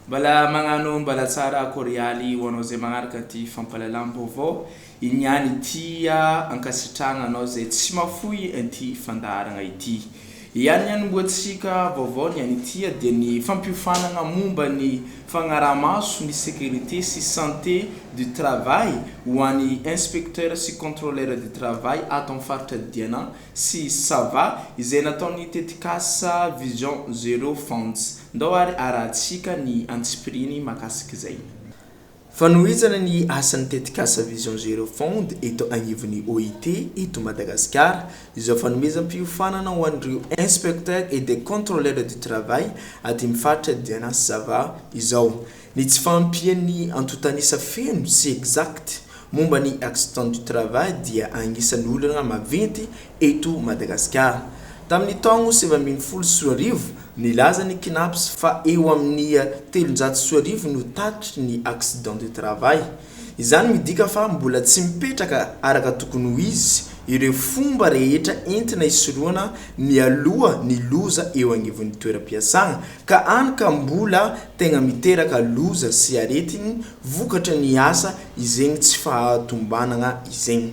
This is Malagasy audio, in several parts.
Mbala magnano mbala tsara korialy ho anao zay magnaraka ty fampalalam-baovao Iny ihany ity ankasitrahana anao izay tsy mafoy inty fandaharagna ity. Ihany ny anombohantsika vaovao ny any ity dia ny fampiofanagna momba ny fagnarahamaso ny sécurité sy santé du travail ho any inspecteur sy contrôleur du travail ato am faritra Diana sy Sava izay nataony tetikasa vision zero funds. Ndao ary arahantsika ny antsipirihiny makasika izay. Fanohizana ny asan'ny tetikasa Vision Zero Fund eto agnivon'ny OIT eto Madagasikara izao fanomezam-piofanana ho an'ireo Inspecteurs et des Contrôleurs du Travail aty amin'ny faritra Diana sy Sava izao ny tsy fahampian'ny antontanisa feno sy exact momba ny Accident du Travail dia agnisan'ny olana maventy eto Madagasikara. Tamin'ny taogno sivy ambin'ny folo sy roa arivo, nilaza ny Cnaps fa eo amin'ny telonjato sy roa arivo no tatitry ny accident du travail. Izany midika fa mbola tsy mipetraka araka tokony ho izy ireo fomba rehetra entina hisorohana mialoha ny loza eo agnivon'ny toeram-piasana ka any ka mbola tegna miteraka loza sy aretigny vokatry ny asa izegny tsy fahatombanagna izegny.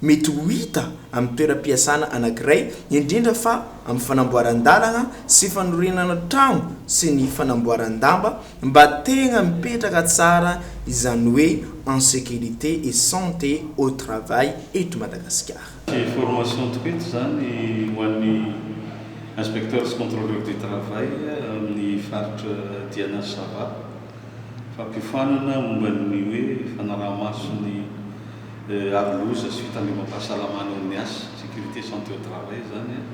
Mety ho hita amin'ny toeram-piasana anankiray, indrindra fa amin'ny fanamboaran-dalana sy fanorenana trano sy ny fanamboaran-damba mba tegna mipetraka tsara izany hoe en sécurité et santé au travail eto Madagasikara. Tsy formation tokoa eto izany ho an'ny inspecteurs sy contrôleurs du travail amin'ny faritra Diana sy Sava. fampiofanana momba ny hoe fanaraha-maso ny aro loza sy fitandrovam-pahasalamana eo amin'ny asa, sécurité santé au travail, izany an,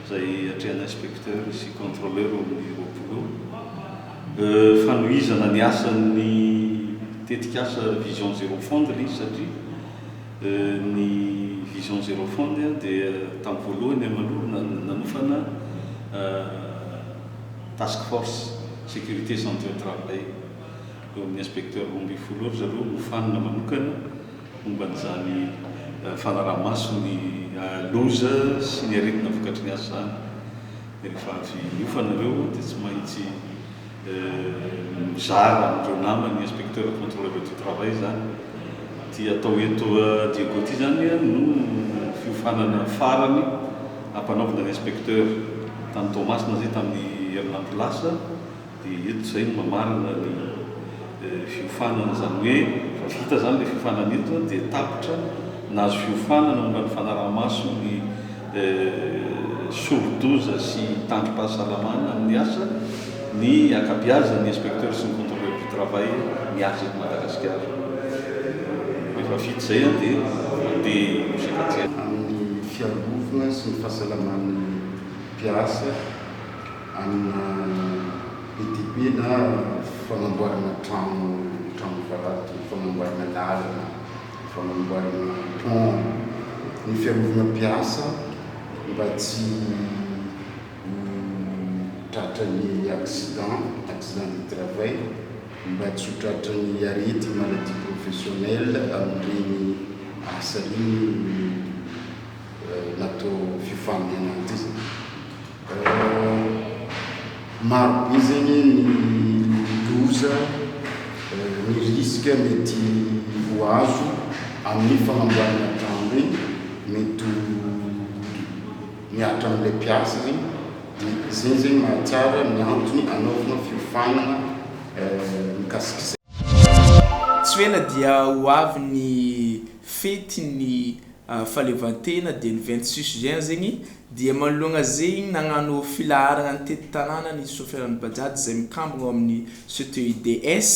izay atrehan'ny inspecteur sy contrôleur eo amin'ny Roapolo eo. Fanohizana ny asan'ny tetikasa Vision Zéro Fondre izy satria ny Vision Zéro Fondre dia tamin'ny voalohany aloha nanofana Task Force Sécurité Santé au Travail eo amin'ny Inspecteur roa ambin'ny folo eo ry zareo nofanina manokana momba an'izany fanaraha-maso ny loza sy ny aretina vokatry ny asa izany. Dia rehefa avy niofana ireo dia tsy maintsy mizara amin'ireo namany ny Inspecteur Contrôleur du Travail izany. Ity atao eto Diego ity izany no fiofanana farany. Nampanaovina ny inspecteur tany Toamasina zay tamin'ny herinandro lasa dia eto zay no mamarana ny fiofanana zany hoe efa vita zany le fiofanana eto dia tapitra nahazo fiofanana momba ny fanarahamaso ny sori-doza sy tandrom-pahasalamana amin'ny asa ny ankabiazan'ny inspecteur sy ny controleur du travail miasa eto Madagasikara. Rehefa vita zay dia mandeha nosy ankatihany. fiambovona sy ny fahasalaman'ny mpiasa amina ETP na fanamboarana trano trano vato, fanamboarana lalana, fanamboarana pont, ny fiarovana mpiasa mba tsy ho tratran'ny accident, accident du travail. Mba tsy ho tratran'ny arety maladie professionnelle amin'ireny asa ireny io natao fifamihana ity zany. Maro be zay anie ny loza, ny risque mety ho azo amin'ny fanamboarana trano ireny. Mety ho. Miaritra amin'ilay mpiasa ny izay izay mahatsara ny antony anaovana fiofanana mikasika izay. Tsy ho ela dia ho avy ny fetin'ny fahaleovantena dia ny vingt six juin zegny dia manoloagna zegny nagnano filaharagna tety tanàna ny sofiran'ny bajaj izay mikambagna ao amin'ny CTUDS,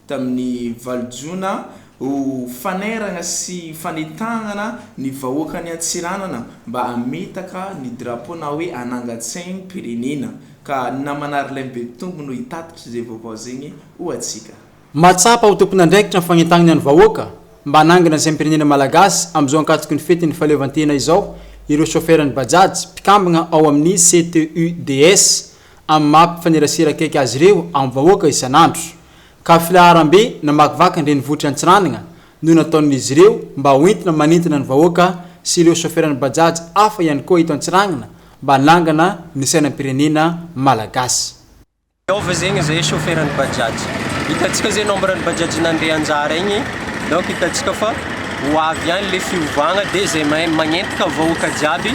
tamin'ny valo jona ho fanairana sy fanentanana ny vahoakan'i Antsiranana mba hametaka ny drapeau na hoe hanangan-tsaim-pirenena ka namana Arlin Betompy no hitatitra izay vaovao izay ho antsika. Mahatsapa ho tompon'andraikitra ny fanentanana ny vahoaka mba hanangana ny saim-pirenena malagasy amin'izao ankatoky ny fetin'ny fahaleovantena izao ireo chauffer-n'ny Bajaj mpikambana ao amin'ny CTUDS amin'ny maha mpifanerasera akaiky azy ireo amin'ny vahoaka isan'andro, ka filaharam-be namakivaky ny renivohitr'i Antsiranana no nataon'izy ireo mba ho entina manintona ny vahoaka sy ireo soferan'ny Bajaj hafa ihany koa eto Antsiranana mba hanangana ny sainam-pirenena Malagasy. Ao ve zegny zay soferan'ny Bajaj? Hitantsika zay nombre ny Bajaj nandeha anjara igny, donc hitantsika fa ho avy ihany le fiovagna dia zay mahay magnentika vahoaka jiaby,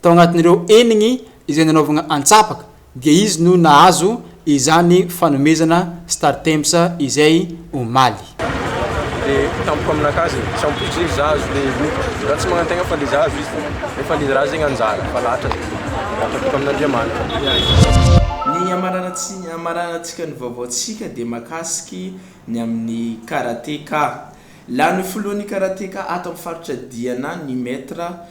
Tao anatin'ireo enigny izay nanaovagna antsapaka dia izy no nahazo izany fanomezana Startimes izay omaly. De tampoka aminakazy e, tsy ampoizy izy za azo le mody za tsy magnantegna fa le za azo izy nefa le ra zegny anjara fa lahatra de lahatra boka amin'Andriamanitra. Ny hamaranantsika ny vaovaontsika dia mahakasiky ny amin'ny Karateka. Lany ho filohan'ny Karateka ato amin'ny faritra Diana ny Maitre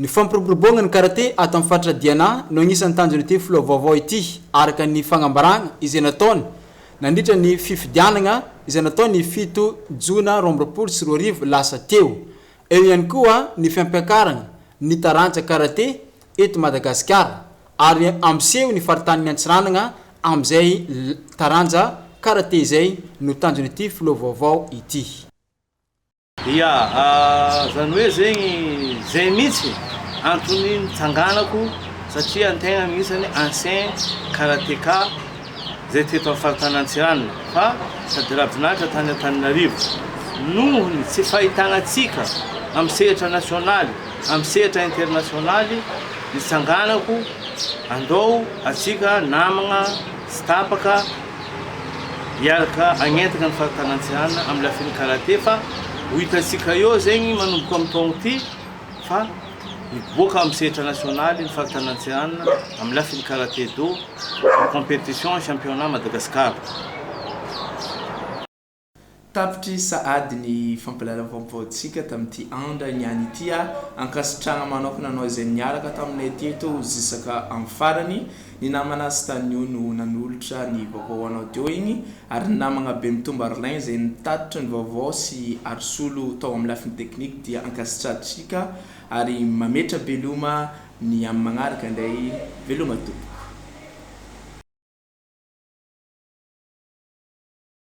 Ny fampiroboroboagna ny karate ato amin'ny faritra Diana no agnisan'ny tanjon'ity filoha vaovao ity, araka ny fagnambaragna izay nataony nandritra ny fifidianagna izay natao ny fito jona roa amby roapolo sy roa arivo lasa teo. Eo ihany koa ny fampiakaragna ny taranja karate eto Madagasikara ary hampiseho ny faritanin'i Antsiranagna amin'izay taranja karate izay no tanjon'ity filoha vaovao ity. Ia, zany hoe zegny zay mitsy antony nitsanganako satria ny tegna misy zany ancien karateka zay teto am faritany antsiranana fa sady rabin'Atra tany Antananarivo noho ny tsy fahitagna tsika am sehatra nasionaly am sehatra internasionaly nitsanganako andao atsika namagna tsy tapaka Hiaraka hagnentana ny faritany Antsiranana amin'ny lafin'ny karate fa ho hitantsika eo zegny manomboka amin'ny taogno ity fa hiboaka amin'ny sehatra nasionaly ny faritany Antsiranana amin'ny lafin'ny karate do, ny competition, ny championnat Madagascar. Tapitry sahady ny fampahalalam-baovaontsika tamin'ity andra ny any ity a! Ankasitrahana manokana anao izay niaraka taminay teto zisaka amin'ny farany, ny namana sy tanio no nanolotra ny vaovao ho anao teo iny, ary ny namagna Bemitombo Arlin izay nitatitra ny vaovao sy Arisolo tao amin'ny lafiny teknika dia ankasitrahantsika ary mametra-beloma ny amin'ny magnaraka indray, veloma tompoko.